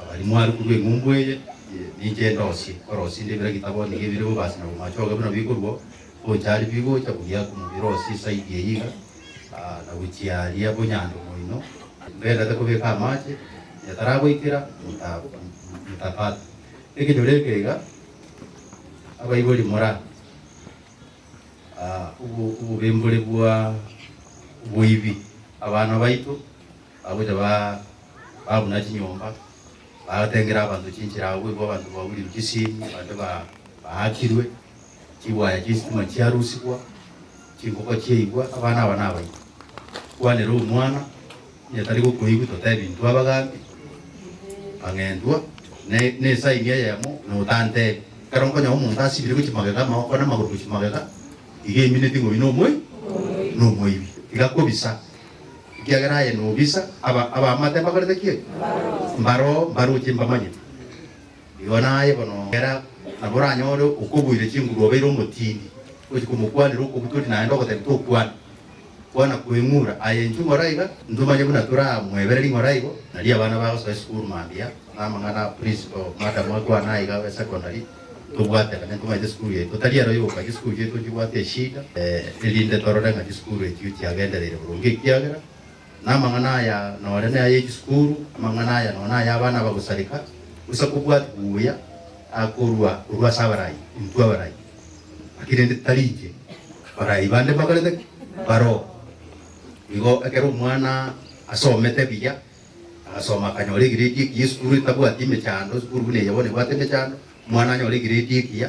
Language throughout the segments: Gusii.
abari mwarikwa b'eng'umbu eye, ninche ndosie, korosia inde bira gitabo nigo ebire bobasi na bomachoge buna bikorua, gocha aria bigocha buya komobirosia esaidi eyio iga, na gochia aria bonyando moino, mbererete kobeka amache, onye taragoikera mota motapata. Ekenyoro eke iga, abaibori mora obo obobembori bwa oboibi, abana baito bagocha ba. ba buna chinyomba, bagatengera abanto chinchera agwo, igo abanto baburirwe chisiimi, abande ba baakirwe, chigwaya chi'esitima chiarusigwa, chinkoko chiaigwa, abana aba nabaito. Kwanera Omwana, onye tari gokoigwa totebi intwe abagambi, mang'entwa, ne nesaini eyemo, na otantebi. Ekero nkonyora omonto asibire gochia magega, amaboko na amagoro gochia magega, iga emineti ng'o oyio nomoibi, nomoibi, tiga kobisa. Ekiagera aye nobisa, aba abamate mbakorete ki? Mbaroo, mbaroche mbamanye. Igo naye bono kera nabo oranyore okoboire chinguru obeire omotindi, ogochia komokwanera okobutori naende ogoteba tokwana, kwana kweng'ura. Aye intwe ng'ora iga, intwe manye buna toramoebererie ng'ora igo. Nario abana bagosoa esukuru mambia, na amang'ana a principal, madam akwane aiga e secondary. Tobwatekane koma chisukuru yaito tari ero yoka chisukuru chiaito nchibwate eshida erinde torore ng'a chisukuru echio chiagendereire boronge ekiagera namang'ana aya nore naye echisukuru amang'ana aya nonya naye abana bagosareka gose kobwati buya akorwa korwa ase abarai intwe abarai naki rende tari inche barai bande mbakorete ki? Mbaroo igo ekero omwana asomete buya. Agasoma akanyora egrade ekiya esukuru etabwati emechando, esukuru buna eye bono ebwate emechando, omwana anyore egrade ekiya,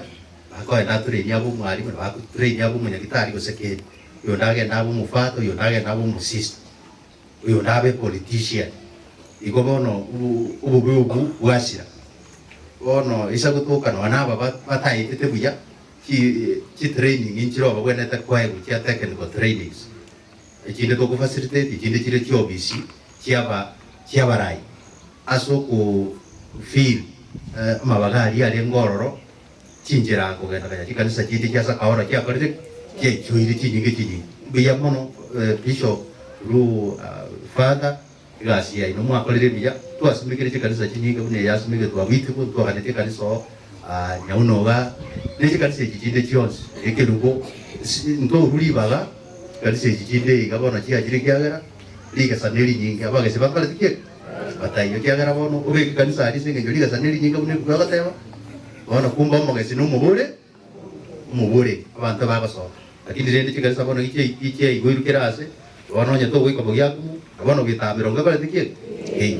akoenda aturenie abe omwalimu, nabo agoturenia abe omonyagitari gose kei, oyonde agende abe omofata, oyonde agende abe omosisto, oyonde abe epolitician. Igo bono obo- obobe obwo bwachira. Bono ase gotoka nonye na aba ba- batayetete buya, chi- chitraining nchirobagwenerete koegwa chia technical trainings. Echinde tokofacilitate chinde chiria chiobisi chiaba chiabarai ase oko fill amabaga aria arenge ororo chinchera kogenda konya chikanisa chinde chia Sakaora chiakorire ki? Chiaichoire chinyinge chinyinge. Mbuya mono Bishop ru Father. Egasi yaino mwakorire mbuya. Twasumekire chikanisa chinyinge buna eye asumegetwe abwo itibu, ntwaganetie ekanisa oo, aa, Nyaunoga, ne chikanisa echi chinde chionsi, ekerubo, isi, ntoru ribaga, chikanisa echi chinde iga bono chiachire ekiagera rigesa nerinyinge. Abagesi bambareti kiek? Bataiyo. Ekiagera bono obeke ekanisa aria ase engencho rigesa nerinyinge buna ebuku egoteba, bono kumbe omogesi nomobore. Omobore, abanto bagosoka. Lakini rende chikanisa bono nichiaigoirwe kera aase, bono onye togoika bogiakumu, na bono goetaba mirongo ebare tikiegwa? Inee!